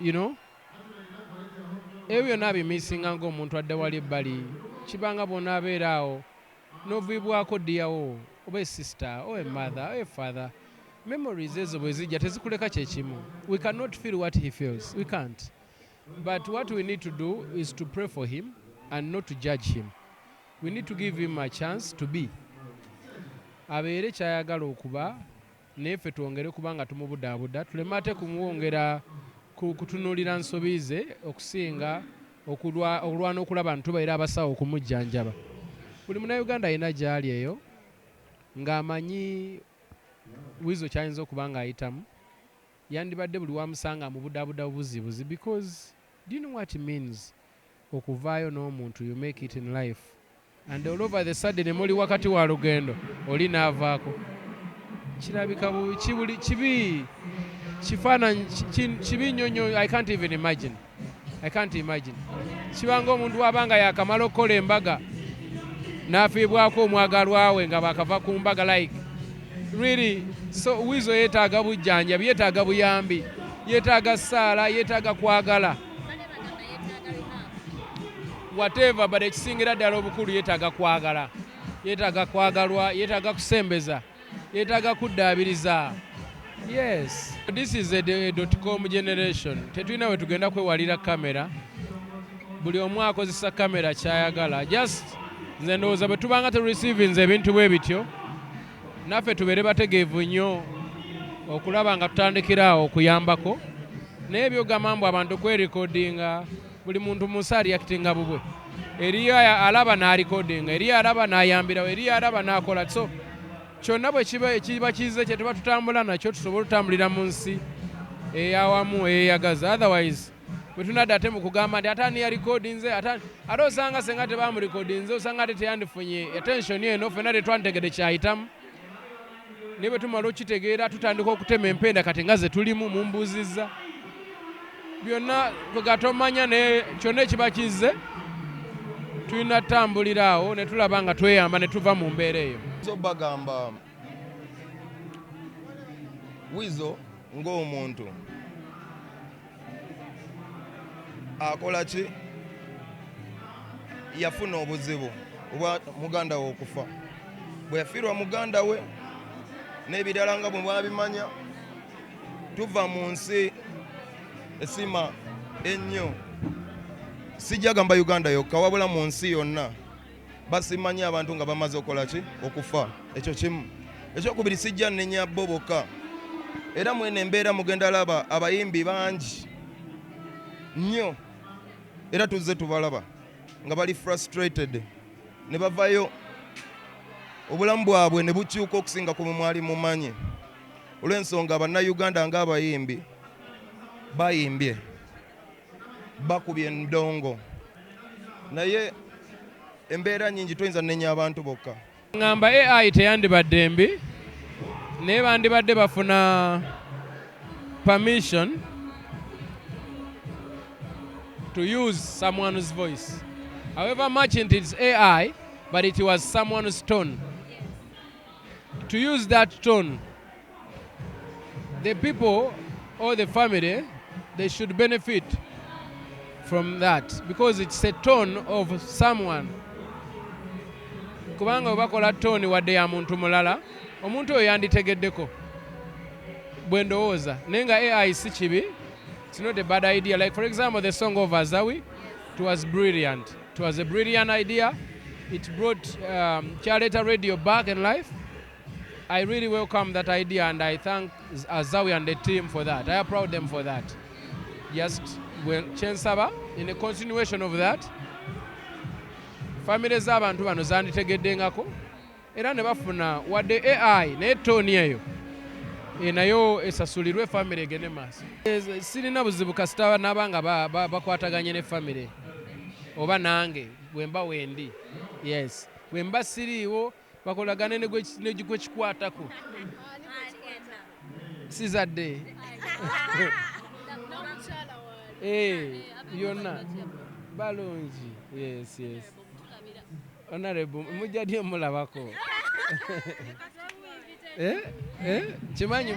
you know ebyo byonna abimisinga ngaomuntu adda wali ebbali kibanga bwonaabeera awo noviibwako diyawo oba esister o emother o efather memories ezo bwe zijja tezikuleka kyekimu we cannot feel what he feels we can't but what we need to do is to pray for him and not to judge him we need to give him a chance to be abeere kyayagala okuba naye ffe twongere kuba nga tumubudaabuda tuleme ate kumwongera kutunuulira nsobi ze okusinga okulwana okulaba nti tubaira abasawo okumujjanjaba buli munauganda alina gy'ali eyo ng'amanyi wizo kyayinza okuba ng'ayitamu yandibadde buli wamusanga amubudaabuda bubuzibuzi because do you know what means okuvaayo n'omuntu you make it in life and all over the sudden muli wakati wa lugendo oli naavaako kirabika bubi kibuli kibi kifaananyi kibi nnyo nnyo i can't even imagine i can't imagine kibanga omuntu waba nga yakamala okukola embaga n'afiibwako omwagalwawe nga bakava ku mbaga like really so wizo yeetaaga bujjanjabi yeetaaga buyambi yeetaaga saala yeetaaga kwagala whatever but ekisingira ddala obukulu yetaaga kwagala yetaaga kwagalwa yetaaga kusembeza yetaaga kuddaabiriza yes this is a, a dot com generation tetulina we tugenda kwewalira kamera buli omu akozesa kamera kyayagala just nze ndowooza bwe tubanga terureceivinze ebintu bwe bityo naffe tubeere bategeevu nnyo okulaba nga tutandikira awo okuyambako naye byogamba mbu abantu kwerekodinga buli muntu munsi aliyakitinga bubwe eriyo alaba nalikodinga eriyo alaba nayambirawo eriyo alaba nakola so kyonna bwe kiba ekiba kize kyetuba tutambula nakyo tusobole otutambulira mu nsi eyawamu eyeyagaza otherwise bwe tunadda ate mu kugamba nti ate ani yalikodinze ate ate osanga senga tebamulikodinze osanga ate teyandifunye attention eno fena tetwantegede kyayitamu naye bwe tumala okitegeera tutandika okutema empenda kati nga ze tulimu mumbuuzizza byonna kwegatomanya naye kyonna ekiba kizze tulina tutambulira awo ne tulaba nga tweyamba ne tuva mu mbeera eyo bagamba wizo ng'omuntu akola ki yafuna obuzibu oba muganda we okufa bwe yafiirwa muganda we n'ebirala nga bwe mwabimanya tuva mu nsi esima ennyo sijja gamba uganda yokka wabula mu nsi yonna basiima nnyo abantu nga bamaze okola ki okufa ekyo kimu ekyokubiri sijja nenya bo bokka era mweno embeera mugenda laba abayimbi bangi nnyo era tuzze tubalaba nga bali frustrated ne bavayo obulamu bwabwe ne bukyuka okusinga ku mwali mumanyi olw'ensonga bannayuganda ng'abayimbi bayimbye bakubye ndongo naye embeera nyingi toyinza nenya abantu bokka ngamba ai teyandibadde mbi naye bandibadde bafuna permission to use someone's voice however much it is ai but it was someone's tone to use that tone the people or the family, they should benefit from that because it's a tone of someone. kubanga bwe bakola tooni wadde ya muntu mulala omuntu oyo yanditegeddeko bwe ndowooza naye nga ai si kibi it's not a bad idea like for example the song of azawi it was brilliant it was a brilliant idea it brought um, kyaleeta radio back in life I really welcome that idea and I thank Azawi and the team for that. I applaud them for that. Just well, Chensaba, in a continuation of that, family z'abantu bano zanditegedengako era ne bafuna wadde AI naye tooni eyo e, nayo esasulirwe famire egende maaso. E, sirina buzibu kasita naba nga bakwataganye ne famire oba nange bwemba wendi yes bwemba siriiwo bakolagane ne gwe kikwatako sizadde eh, byonna balungi yes yes honorable mujja dyo mulabako Eh, eh, kimanyi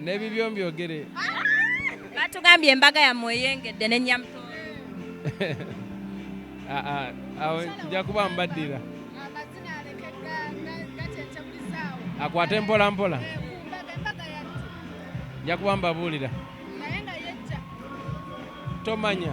nebibyo mbyogere batugambye embaga yammwe eyengedde ne nyamuto ah, ah, awo nja kuba mbaddira akwate mpola mpola nja kuba mbabuulira tomanya